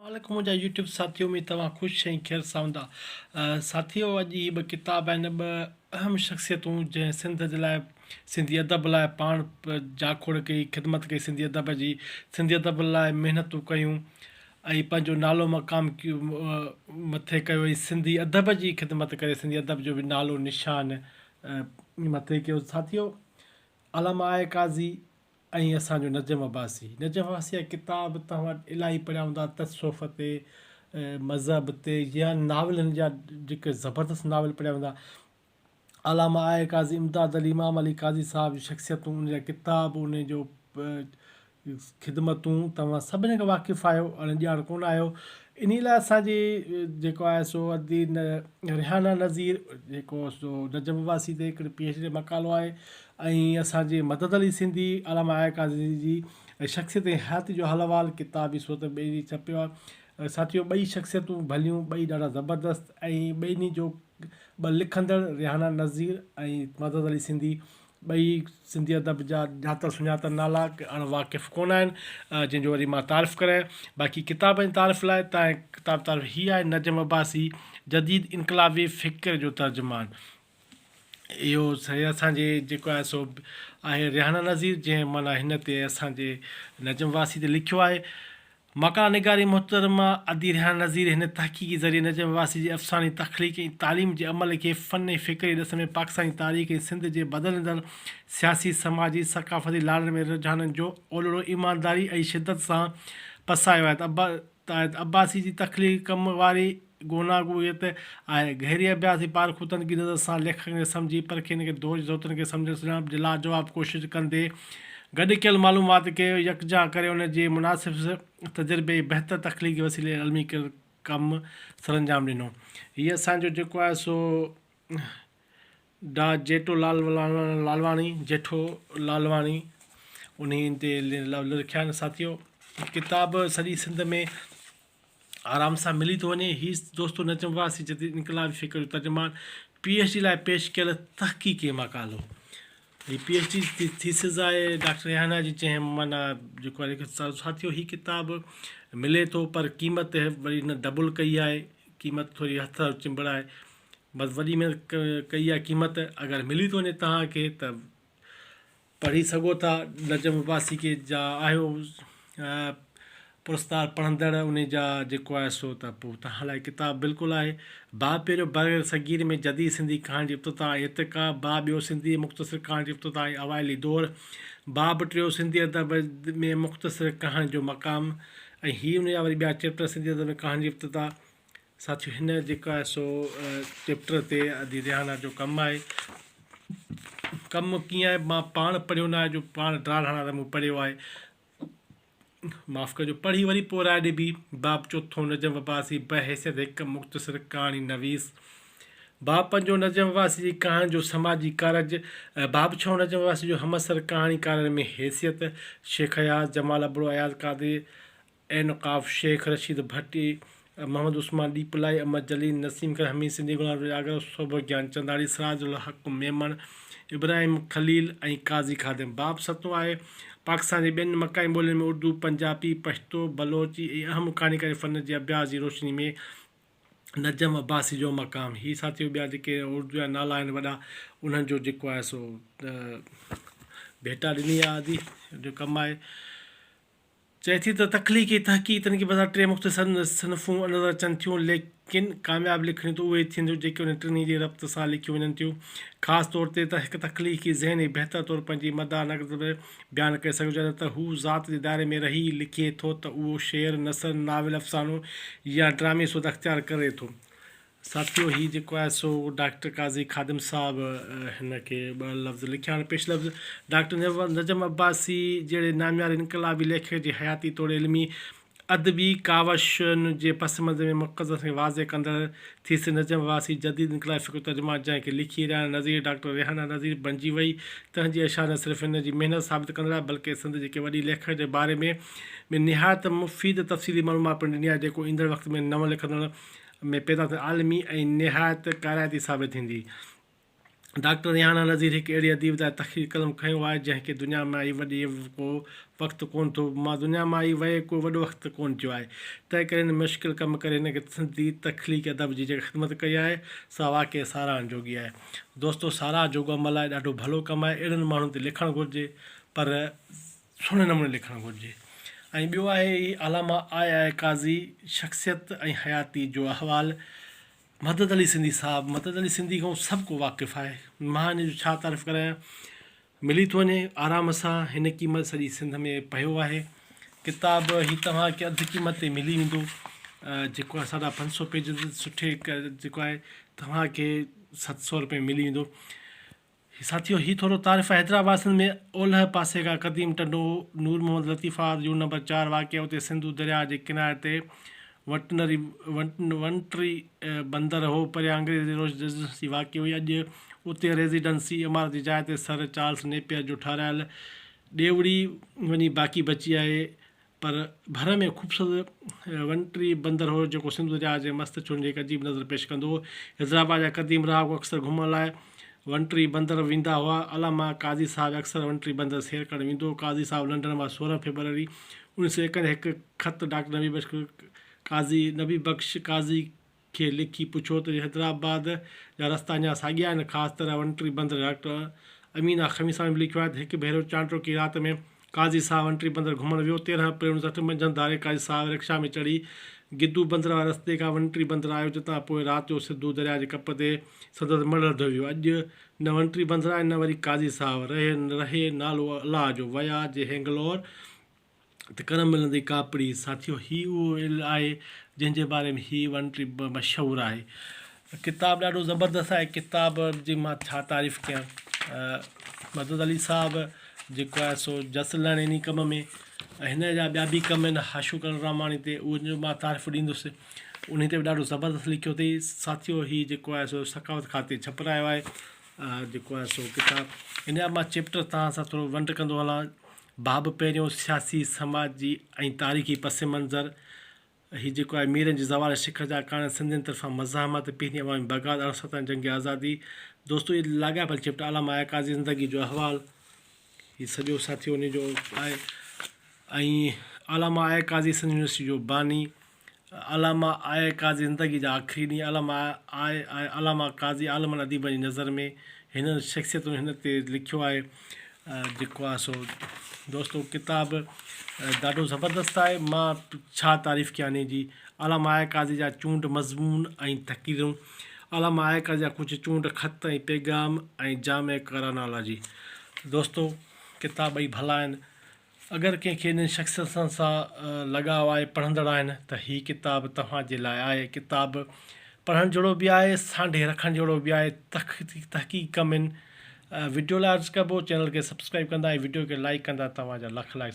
مالڪ منهنجا يوٽيوب ساٿيو ۾ توهان خوش ۽ خير ساوندا ساٿيو اڄ هي ٻه ڪتاب آهن ٻه اهم شخصيتون جنهن سنڌ جي لاء سنڌي ادب لاء پاڻ جاکوڙ ڪئي خدمت ڪئي سنڌي ادب جي سنڌي ادب لاء محنتون ڪيون ۽ پنهنجو نالو مقام مٿي ڪيو ۽ سنڌي ادب جي خدمت ڪري سنڌي ادب جو به نالو نشان مٿي ڪيو ساٿيو علامه آء قاضي ۽ اسان جو نجم عباسي. نجم عباسيء جا ڪتاب توهان وٽ الاهي پڙهيا هوندا، تصوف تي، مذهب تي يا ناول هن جا جيڪي زبردست ناول پڙهيا هوندا. علامه آء قاضي امداد علي امام علي قاضي صاحب جون شخصيتون، ان جا ڪتاب، ان جو خدمتون توهان سڀني کان واقف آهيو، اڻ ڄاڻ ڪونه آهيو. انهيء لاء اسان جي جيڪو آهي سو ادي ريحانه نظير جيڪو سو نجم عباسي تي هڪڙي پي ايڇ ڊي جو مقالو آهي. ۽ اسان جي مدد علي سنڌي، علامه آيا قاضي جي شخصيت ۽ حياتي جو حال احوال ڪتاب جي صورت ۾ ٻئي ڏينهن ڇپيو آهي. ساٿيو ٻئي شخصيتون ڀليون، ٻئي ڏاڍا زبردست ۽ ٻنهي جو ٻه لکندڙ ريحانه نذير ۽ مدد علي سنڌي ٻئي سنڌي ادب جا ڄاتل سڃاتل نالا اڻ واقف ڪونه آهن جن جو وري مان تعارف ڪرايان باقي ڪتاب جي تعارف لاء تاهين ڪتاب تعارف هي آهي نجم عباسي جديد انقلابي فڪر جو ترجمان اهو سائين اسان جي جيڪو آهي سو آهي ريحانه نظير جنهن معنيٰ هن تي اسان جي نجم واسي تي لکيو آهي. مقاله نگاري محترمه ادي ريحانه نظير هن تحقيقي ذريعي نجم واسي جي افساني تخليق ۽ تعليم جي عمل کي فن ۽ فڪري ڏس ۾ پاڪستاني تاريخ ۽ سنڌ جي بدلندڙ سياسي، سماجي، ثقافتي لاڙن ۾ رجحانن جو اولڙو ايمانداري ۽ شدت سان پسايو آهي ته تحت عباسي جي تخليقي ڪم واري گوناگونيت آهي. گهري اڀياس ۽ پارکو تنقيدي نظر سان ليکڪن کي سمجهي پرکي ان کي دوج ضرورتن کي سمجهڻ سڃاڻپ جي لاجواب ڪوشش ڪندي گڏ ڪيل معلومات کي يڪجا ڪري ان جي مناسب تجربي ۽ بهتر تخليقي وسيلي علمي ڪيل ڪم سرانجام ڏنو. هي اسان جو جيڪو آهي سو. ڊاء جيٽو لال لالواڻي، جيٺو لالواڻي، انهي تي لفظ لکيا آهن ساٿيو ڪتاب سڄي سنڌ ۾ آرام سان ملي ٿو وڃي هي دوستو نجم واسي جديد انقلابي فڪر جو ترجمان پي ايڇ ڊي لاء پيش ڪيل تحقيقي مقالو هي پي ايڇ ڊي ٿيسز آهي ڊاڪٽر ريحانه جي جنهن معنيٰ جيڪو آهي ساٿيو هي ڪتاب ملي ٿو پر قيمت وري هن ڊبل ڪئي آهي قيمت ٿوري هٿ چنبڙائي بس وڏي محنت ڪئي آ قيمت اگر ملي ٿو وڃي تهان کي ته پڙهي سگهو ٿا نجم عباسي کي جا آهيو پرستار پڙهندڙ ان جا جيڪو آهي سو ته پوء تهان لاء ڪتاب بلڪل آهي با پهريون بر صغير ۾ جديد سنڌي ڪهاڻي جي افتتاح ۽ ارتقا با ٻيو سنڌي مختصر ڪهاڻي جي افتتاح ۽ اوائلي دور با به ٽيو سنڌي ادب ۾ مختصر ڪهاڻي جو مقام ۽ هي ان جا وري ٻيا چيپٽر سنڌي ادب ۾ ڪهاڻي جي افتتاح ساٿيو هن جيڪو آهي سو چيپٽر تي ادي ريحانه جو ڪم آهي ڪم ڪيئن آهي مان پاڻ پڙهيو ناهي جو پاڻ ڊرا ڊاڻا ته مون پڙهيو آهي معاف ڪجو پڙهي وري پوء راء ڏبي باب چوٿون نجم عباسي بحيثيت هڪ مختصر ڪهاڻي نويس باب پنجون نجم عباسي جي ڪهاڻي جو سماجي ڪارج باب ڇهون نجم عباسي جو همعصر ڪهاڻيڪارن ۾ حيثيت شيخ اياز جمال ابڙو اياز قادري عينقاف، شيخ رشيد ڀٽي، محمد عثمان ڏيپلائي، امر جليل، نسيم خان، حميد سنڌي، غلام نبي آگرو، سوڀو گيان چنڌاڻي، سراج الحق ميمڻ، ابراهيم خليل ۽ قاضي خادم. باب ستون آهي، پاڪستان جي ٻين مقامي ٻولين ۾ اردو، پنجابي، پشتو، بلوچي ۽ اهم ڪهاڻيڪاري فن جي اڀياس جي روشني ۾ نجم عباسي جو مقام. هي ساٿيو ٻيا جيڪي اردو جا نالا آهن وڏا انهن جو جيڪو آهي سو ڀيٽا ڏني آهي آدي جو ڪم آهي. چئي ٿي ته تخليقي تحقيق تنقيد بظاهر ٽي مختصر صنفون نظر اچن ٿيون، ليڪن ڪامياب لکڻيون ته اهي ئي ٿينديون جيڪي انهن ٽنهي جي ربط سان لکيون وڃن ٿيون. خاص طور تي ته هڪ تخليقي ذهن ئي بهتر طور پنهنجي مداح نقد ۾ بيان ڪري سگهيو جڏهن ته هو ذات جي دائري ۾ رهي لکي ٿو ته اهو شعر، نثر، ناول، افسانو يا ڊرامي سوڌا اختيار ڪري ٿو. ساٿيو هي جيڪو آهي سو ڊاڪٽر قاضي خادم صاحب هن کي ٻه لفظ لکيا آهن پيش لفظ ڊاڪٽر نجم عباسي جهڙي نامياري انقلابي ليکڪ جي حياتي توڙي علمي ادبي ڪاوشن جي پس منظر ۾ مقدس کي واضح ڪندڙ ٿيسز نجم عباسي جديد انقلابي فڪر جو ترجمان جنهن کي لکي رهاڻي نظريي ڊاڪٽر ريحانه نظري بڻجي وئي تنهن جي اشعار نه صرف هن جي محنت ثابت ڪندڙ آهي بلڪه سنڌ جي ڪنهن وڏي ليکڪ جي باري ۾ به نهايت مفيد تفصيلي معلومات پڻ ڏني آهي جيڪو ايندڙ وقت ۾ نون لکندڙ ۾ پيدا ٿيل عالمي ۽ نهايت ڪارائتي ثابت ٿيندي. ڊاڪٽر ريحانه نذير هڪ اهڙي اديب تان تخليقي قلم کنيو آهي، جنهن کي دنيا ۾ آئي وڏي ڪو وقت ڪونه ٿو. مان دنيا مان آئي ويئي ڪو وڏو وقت ڪونه ٿيو آهي. تنهن ڪري هن مشڪل ڪم ڪري هن کي سنڌي تخليقي ادب جي جيڪا خدمت ڪئي آهي، سا واقعي ساراهڻ جوڳي آهي. دوستو ساراهه جوڳو عمل آهي، ڏاڍو ڀلو ڪم آهي، اهڙن ماڻهن تي لکڻ گهرجي، پر. سهڻي نموني لکڻ گهرجي ۽ ٻيو آهي هي علامه آء آء قاضي شخصيت ۽ حياتي جو احوال مدد علي سنڌي صاحب مدد علي سنڌي کان سڀ ڪو واقف آهي مان هن جو ڇا تعرف ڪرايان ملي ٿو وڃي آرام سان هن قيمت سڄي سنڌ ۾ پيو آهي ڪتاب هي توهان کي اڌ قيمت تي ملي ويندو جيڪو آهي ساڍا پنج سو پيجز سٺي جيڪو آهي توهان کي ست سو روپئي ملي ويندو هي ساٿيو هي ٿورو تعارف حيدرآباد سنڌ ۾ اولهه پاسي کان قديم Tando Noor Muhammad Latifabad unit number چار واقع اتي سنڌو درياهه جي ڪناري تي ونٽنري Ventnry بندر هو پريان انگريزي ريزيڊنسي واقع هئي اڄ اتي ريزيڊنسي عمارت جي جاء تي سر چارلس نيپئر جو ٺهرايل ڏيوڙي وڃي باقي بچي آهي پر ڀر ۾ خوبصورت ونٽري بندر هو، جيڪو سنڌو درياء جي مست چرن جي هڪ عجيب نظر پيش ڪندو هو. حيدرآباد جا قديم رهاڪو اڪثر گهمڻ لاء ونٽري بندر ويندا هئا. علامه قاضي صاحب اڪثر ونٽري بندر سير ڪرڻ ويندو هو. قاضي صاحب لنڊن مان سورهن فيبروري اوڻيھ سؤ ايڪ ۾ هڪ خط ڊاڪٽر نبي بخش قاضي نبي بخش قاضي کي لکي پڇو ته حيدرآباد جا رستا اڃا ساڳيا آهن خاص طرح وڻٽري بندر ڊاڪٽر امينا خميساڻي به لکيو آهي ته هڪ ڀيرو چانڊروڪي رات ۾ قاضي صاحب وڻٽري بندر گهمڻ ويو تيرهن اپريل اڻ سٺ منجهند ڌاري قاضي صاحب رڪشا ۾ چڙهي گدو بندر واري رستي کان وڻٽري بندر آيو جتان پوء رات جو سڌو درياء جي ڪپ تي سندس مڙهه لڌو ويو اڄ نه وڻٽري بندر آهي نه وري قاضي صاحب رهي رهي نالو الله جو ويا جي هينگلور ته ڪرم ملندي ڪاپڙي. ساٿيو هي اهو علم آهي جنهن جي باري ۾ هي ون ٽي مشهور آهي. ڪتاب ڏاڍو زبردست آهي ڪتاب جي مان ڇا تعريف ڪيان مدد علي صاحب جيڪو آهي سو جس لهڻ انهي ڪم ۾ ۽ هن جا ٻيا به ڪم آهن حاشو ڪرڻ راماڻي تي ان جو مان تعريف ڏيندس انهي تي به ڏاڍو زبردست لکيو اٿئي ساٿيو هي جيڪو آهي سو ثقافت کاتي ڇپرايو آهي جيڪو آهي سو ڪتاب ان جا مان چيپٽر توهان سان ٿورو ونڊ ڪندو هلان باب پهريون، سياسي، سماجي ۽ تاريخي پس منظر، هي جيڪو آهي ميرن جي زوال شڪست جا ڪارڻ، سنڌين طرفان مزاحمت، پهرين عوامي بغاوت، ارڙهن سؤ ستائيس جنگ آزادي، دوستو هي لاڳاپيل چيپٽر علامه آهي قاضي زندگي جو احوال، هي سڄو ساٿيو انهي جو آهي ۽ علامه آهي قاضي سنڌ يونيورسٽي جو باني، علامه آء قاضي زندگي جا آخري ڏينهن علامه آء ۽ علامه قاضي عالمن اديبن جي نظر ۾ هنن شخصيتن هن تي لکيو آهي جيڪو آهي سو دوستو ڪتاب ڏاڍو زبردست آهي مان ڇا تعريف ڪيان انهي جي علامه آء قاضي جا چونڊ مضمون ۽ تقريرون علامه آء قاضي جا ڪجهه چونڊ خط ۽ پيغام ۽ جامع ڪرانالاجي دوستو ڪتاب ٻئي ڀلا آهن اگر ڪنهن کي انهن شخصيتن سان لڳاء آهي، پڙهندڙ آهن، ته هي ڪتاب توهان جي لاء آهي. ڪتاب پڙهڻ جهڙو به آهي، سانڍي رکڻ جهڙو به آهي. تحقيق ڪم ان وڊيو لاء عرض ڪبو، چينل کي سبسڪرائيب ڪندا ۽ وڊيو کي لائيڪ ڪندا توهان جا لک لائيڪ.